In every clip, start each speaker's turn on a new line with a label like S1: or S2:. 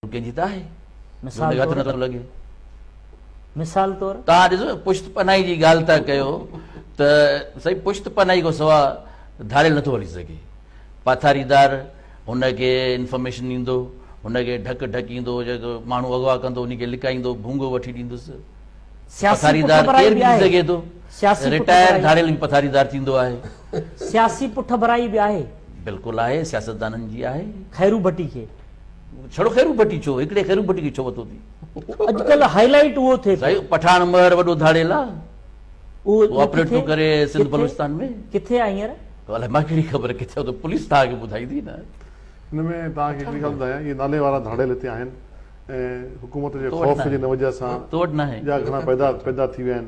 S1: هو ڪنهن جي ته آهي، جو ان کي هٿ
S2: نٿو لڳي. مثال طور. توهان ڏسو، پشت
S1: پناهي جي ڳالهه ٿا ڪيو ته سائين پشت پناهي کان سواء ڌاڙيل نٿو هلي سگهي. پاٿاريدار هن کي انفارميشن ڏيندو، هن کي ڍڪ ڍڪيندو، جيڪو ماڻهو اغوا ڪندو ان کي لڪائيندو، ڀونگو وٺي ڏيندس. پٿاريدار ڪير به ٿي سگهي ٿو. رٽائر ڌاڙيل به پٿاريدار ٿيندو آهي. سياسي
S2: پٺڀرائي به آهي. بلڪل آهي،
S1: سياستدانن جي آهي. خيرو ڀٽي کي.
S2: ڇڙو خيرو
S1: ڀٽي ڇو هڪڙي خيرو ڀٽي کي ڇو وتو ٿي اڄ ڪلهه هائي
S2: لائيٽ اهو ٿي سائين پٺاڻ مهر
S1: وڏو ڌاڙيل آ اهو
S2: آپريٽ ٿو ڪري
S1: سنڌ بلوچستان ۾ ڪٿي آ هينئر
S2: الائي مان ڪهڙي خبر
S1: ڪٿي آ پوليس توهان کي ٻڌائيندي نه ان ۾ توهان
S3: کي هڪڙي ڳالهه ٻڌايان اهي نالي وارا ڌاڙيل هتي آهن ۽ حڪومت جي خوف جي نه وجه سان تو وٽ ناهي ٻيا گهڻا
S1: پيدا پيدا
S3: ٿي ويا آهن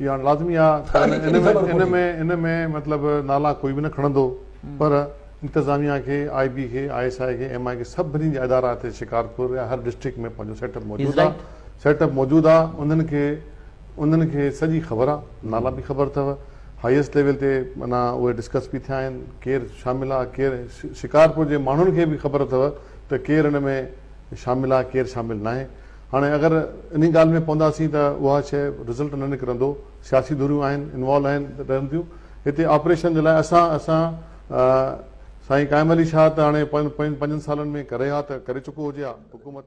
S3: اهو هاڻي لازمي آ ان ۾ ان ۾ مطلب نالا ڪوئي به نه کڻندو پر انتظاميا کي آء بي کي آء ايس آء کي ايم آء کي سڀني جا ادارا هتي شڪارپور يا هر ڊسٽرڪٽ ۾ پنهنجو سيٽ اپ موجود آ سيٽ اپ موجود آ انهن کي انهن کي سڄي خبر آ نالا به خبر اٿو هائيسٽ ليول تي معنيٰ اهي ڊسڪس به ٿيا آهن ڪير شامل آ ڪير شڪارپور جي ماڻهن کي به خبر اٿو ته ڪير ان ۾ شامل آ ڪير شامل ناهي هاڻي اگر انهي ڳالهه ۾ پونداسين ته اها شيء رزلٽ نه نڪرندو، سياسي ڌريون آهن، انوالو آهن رهن ٿيون هتي آپريشن جي لاء اسان اسان سائين قائم علي شاهه ته هاڻي پنجن سالن ۾ ڪري ها ته ڪري چڪو هجي ها حڪومت.